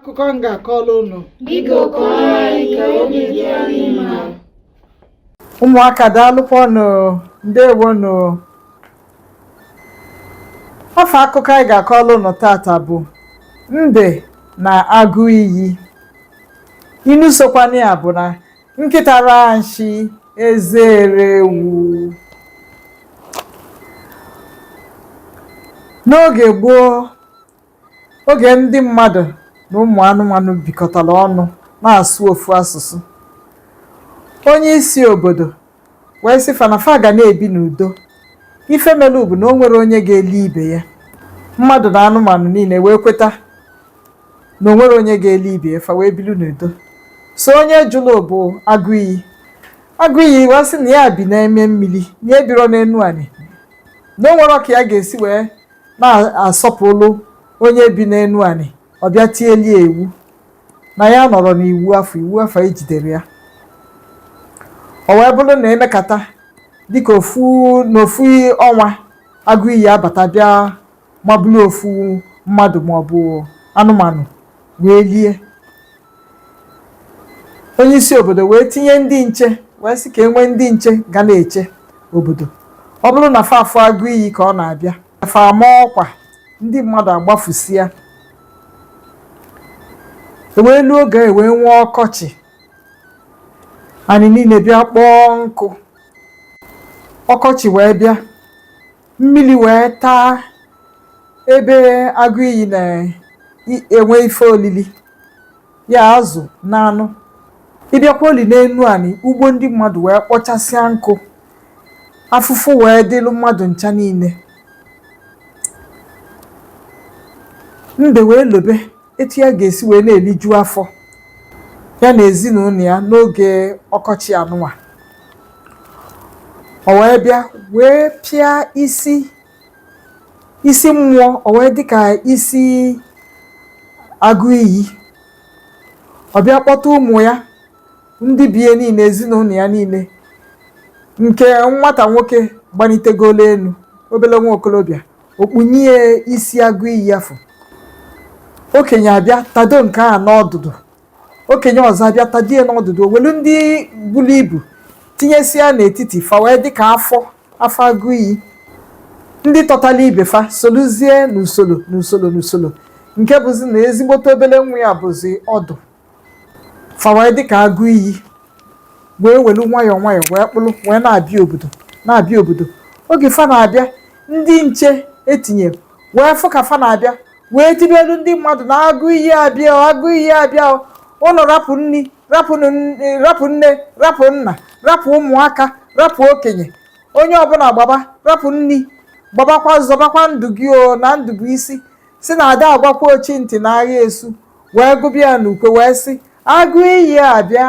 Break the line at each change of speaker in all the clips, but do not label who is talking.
akụkọ
m ga-akọrọ
unu ụmụaka daalụkwanụ ndewonụ afa akụkọ anyị ga-akọrọ unu tata bụ mbe na agụ iyi inu sokwana ya bụ na nkịta raa nshị eze eree ewu n'oge gboo Oge ndị mmadụ na ụmụ anụmanụ bikọtara ọnụ na-asụ ofu asụsụ, onye isi obodo wee sị fa na fa ga na-ebi n'udo. Ife melụ bụ na o nwerọ onye ga-eli ibe ya. Mmadụ na anụmanụ niile wee kweta na o nwerọ onye ga-eli ibe ya, fa wee bilu n'udo. Sọ onye jụrụ bụ agụ iyi. Agụ iyi wee sị na ya bi n'ime mmiri, na ya ebirọ n'enu anị, na o nwerọ ka ya ga-esi wee na-asọpụrụ onye bi n'enu anị ọ bịa tielu ya iwu na ya anọrọ n'iwu afụ iwu afụ ejiderọ ya o wee bụrụ na e mekata dịka ofu na ofu ọnwa agụ iyi abata bịa mabụrụ ofu mmadụ maọbụ anụmanụ wee lie onye isi obodo wee tinye ndị nche wee sị ka e nwee ndị nche ga na-eche obodo ọ bụrụ na fa fụ agụ iyi ka ọ na-abịa fa ama ọkwa ndị mmadụ agbafusịa e wee luo oge e wee nwee ọkọchị anị niile bịa kpọọ nkụ ọkọchị wee bịa mmiri wee taa ebe agụ iyi na-enwe ife olili ya azụ na anụ ị bịakwa oli n'enu anị ugbo ndị mmadụ wee kpọchasịa nkụ afụfụ wee dịlụ mmadụ ncha niile mbe wee lobe etu ya ga-esi wee na-eliju afọ ya na ezinụnọ ya n'oge ọkọchị anụnwa o wee bịa wee pịa isi isi mmụọ o wee dị ka isi agụ iyi ọ bịa kpọta ụmụ ya ndị be ya niile ezinụnọ ya niile nke nwata nwoke gbanitegolo enu obele nwa okolobịa o kpunye ya isi agụ iyi afụ okenye abịa tado nke a n'ọdụdụ okenye ọzọ abịa tado ya n'ọdụdụ o welu ndị bulu ibu tinyesịa n'etiti fa wee dị ka afọ afọ agụ iyi ndị tọtalụ ibe fa soluzie n'usoro n'usoro n'usoro nke bụzi na ezigbote obele nwa ya bụzi ọdụ fa wee dịka agụ iyi wee welu nwayọọ nwayọọ wee kpụlụ wee na-abịa obodo na-abịa obodo oge fa na-abịa ndị nche etinye wee fụ ka fa na-abịa wee tibelu ndị mmadụ na agụ iyi abịa o, agụ iyi abịa o. unu rapụ nni rapụ nne rapụ nna rapụ ụmụaka rapụ okenye onye ọbụna gbaba rapụ nni gbabakwa zọbakwa ndụ gị o na ndụ bụ isi sị na ada agwakwa ochi ntị na agha esu wee gụba ya n'ukwe wee sị agụ iyi abịa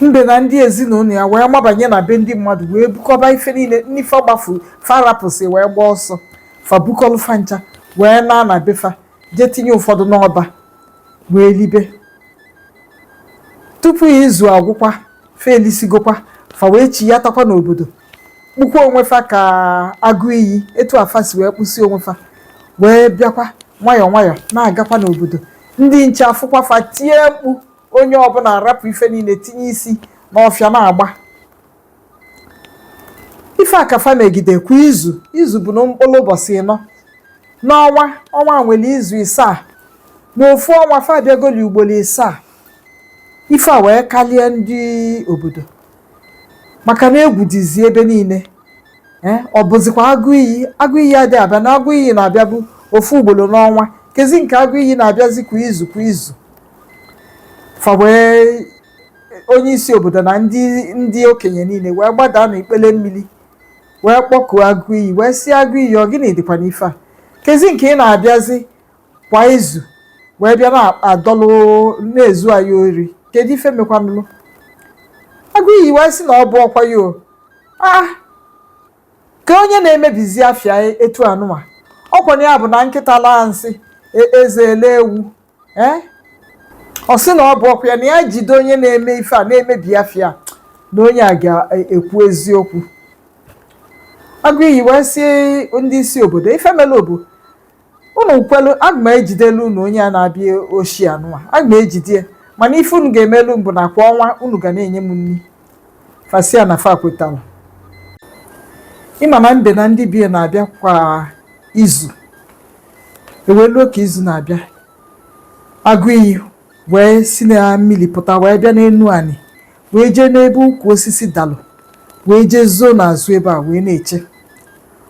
mbe na ndị ezinụlọ ya wee mabanye na be ndị mmadụ wee bukọba ife niile ndị fa gbafulu fa rapụsị wee gbaa ọsọ fa bukọlụ fa ncha wee naa na be fa jee tinye ụfọdụ n'ọba wee libe tupu izu agwụkwa fa elisigokwa fa wee chiyatakwa n'obodo kpụkwa onwe fa ka agụ iyi etu a fa si wee kpụsi onwe fa wee bịakwa nwayọọ nwayọọ na-agakwa n'obodo ndị nche afụkwa fa tie mkpu onye ọbụna arapụ ife niine tinye isi n'ọfịa na-agba ife a ka fa megide kwa izu izu bụnụ mkpụlụ ụbọsị ịnọ n'ọnwa ọnwa nwelu izu isaa n'ofu ọnwa fa abịagoli ugbolo isaa ife a wee kalịa ndị obodo maka na egwu dịzi ebe niile ee ọ bụzikwa agụ iyi agụ iyi ada abịa na agụ iyi na-abịabu ofu ugbolo n'ọnwa kezi nke agụ iyi na-abịazi kwa izu kwa izu fa wee onye isi obodo na ndị ndị okenye niine wee gbadaa n'ikpele mmili wee kpọkuo agụ iyi wee sị agụ iyi ọ gịnị dịkwa n'ife a kezi nke ị na-abịazi kwa izu wee bịa na-adọlụ na-ezu anyị ori kedu ife mekwanụlụ agụ iyi wee sị na ọ bụrọkwa ya o ah kee onye na-emebizi afa ya etu anụwa ọkwa na ya bụ na nkịta laa nsị e- eze elee ewu ee ọ sị na ọ bụrọkwa ya na ya jide onye na-eme ife a na-emebi afa ya na onye a ga-ekwu eziokwu agụ iyi wee sị ndị isi obodo ife mele ọ bụ unu kwelu aga m ejidelu unu onye a na-abịa oshi anụwa aga m ejide ya mana ife unu ga-emelu m bụ na kwa ọnwa unu ga na-enye m nni fa sị ya na fa kwetara ị ma na mbe na ndị be ya na-abịa kwa izu e wee luo ka izu na-abịa agụ iyi wee si na mmili pụta wee bịa n'enu anị wee jee n'ebe ukwu osisi dalụ wee jee zoo n'azụ ebe a wee na-eche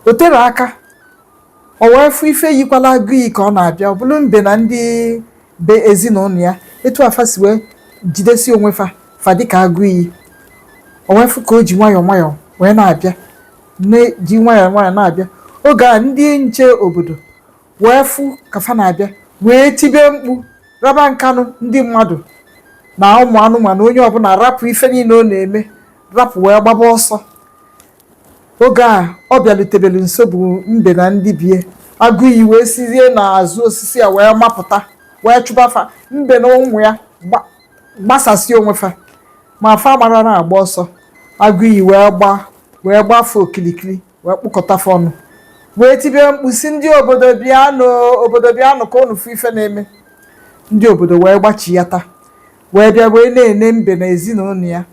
o terọ aka O wee fụ ife yikwalụ agụ iyi ka ọ na-abịa, ọ bụlụ mbe na ndị be ezinụnọ ya, etu a fa si wee jidesi onwe fa fa dị ka agụ iyi. O wee fụ ka o ji nwayọọ nwayọọ wee na-abịa, ji nwayọọ nwayọọ na-abịa. Oge a ndị nche obodo wee fụ ka fa na-abịa wee tibe mkpu raba nkenu ndị mmadụ na ụmụ anụmanụ onye ọbụna rapụ ife niine ọ na-eme rapụ wee gbaba ọsọ Oge a ọ bịalutebelu nso bụ mbe na ndị bie. Agụiyi wee sizie n'azụ osisi a wee mapụta wee chụba fa. Mbe na ụmụ ya gba- gbasasịa onwe fa ma fa mara na-agba ọsọ. Agụiyi wee gbaa wee gbaa fa okilikili wee kpokọta fa ọnụ wee tibe mkpu sị ndị obodo bịanụ obodo bịanụ ka unu fụ ife na-eme. Ndị obodo wee gbachiyata wee bịa wee na-ene mbe na ezinụnọ ya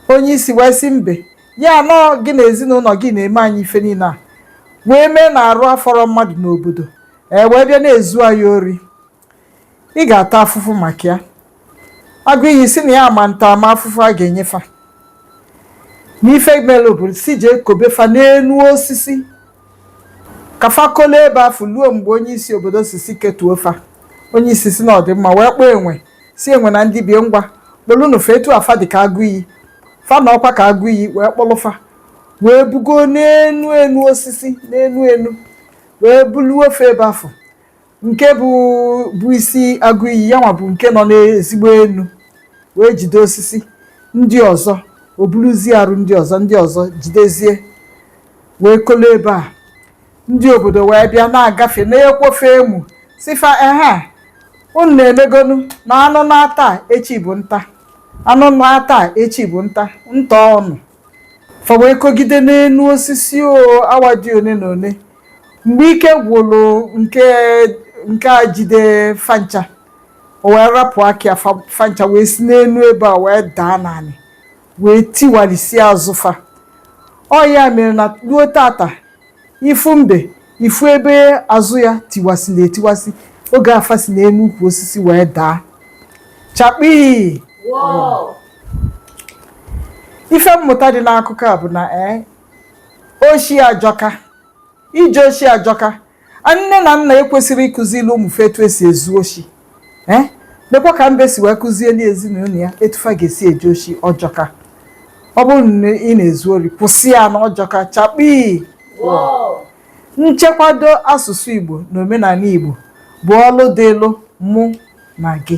onye isi wee sị mbe ya na ọ gị na ezinụnọ gị na-eme anyị ife niine a wee mee na arụ afọrọ mmadụ n'obodo ee wee bịa na-ezu anyị ori ị ga-ata afụfụ maka ya agụ iyi sị na ya ma ntalamafụfụ a ga-enye fa n'ife mere obodo sị jee kobe fa n'enu osisi ka fa kolo ebe afụ luo mgbe onye isi obodo sị sị ketuo fa onye isi sị na ọ dị mma wee kpọọ enwe sị enwe na ndị bie ngwa kpọlụnụ fa etu a fa dị ka agụ iyi fa na ọkwa ka agụ iyi wee kpọlụ fa wee bugo n'enu enu osisi n'enu enu wee buluo fa ebe afụ nke bụbu isi agụ iyi ya nwa bụ nke nọ n'ezigbo enu wee jide osisi ndị ọzọ o buluzie arụ ndị ọzọ ndị ọzọ jidezie wee kolo ebe a ndị obodo wee bịa na-agafe na-akwa fa emu sị fa ehe unu na-emegonu na anụ naa taa echi bụ nta anụ naa taa echi bụ nta ntọọ nụ fa wee kogide n'enu osisi o awa dị one na one mgbe ike gwụlụ nke nke a jide fa ncha o wee rapụ aka ya fa- fa ncha wee si n'enu ebe a wee daa n'anị wee tiwalisi azụ fa ọ ya mere na luo tata Ị fụ mbe, ị fụ ebe azụ ya tiwasịlị etiwasị oge a fa si n'enu ukwu osisi wee daa. Chakpii! Ife mmụta dị n'akụkọ a bụ na ee oshi ajọka ije oshi ajọka nne na nna ekwesirọ ịkụzili ụmụ fa etu e si ezu oshi ee eh? nekwa ka mbe si wee kụzieli ezinụnọ ya etu fa ga-esi eje oshi ọ jọka ọ bụrụ na ị na-ezu ori kwụsị ya na ọ jọka chakpii nchekwado asụsụ Igbo na omenanị Igbo bụ ọlụ dịlụ mụ na gị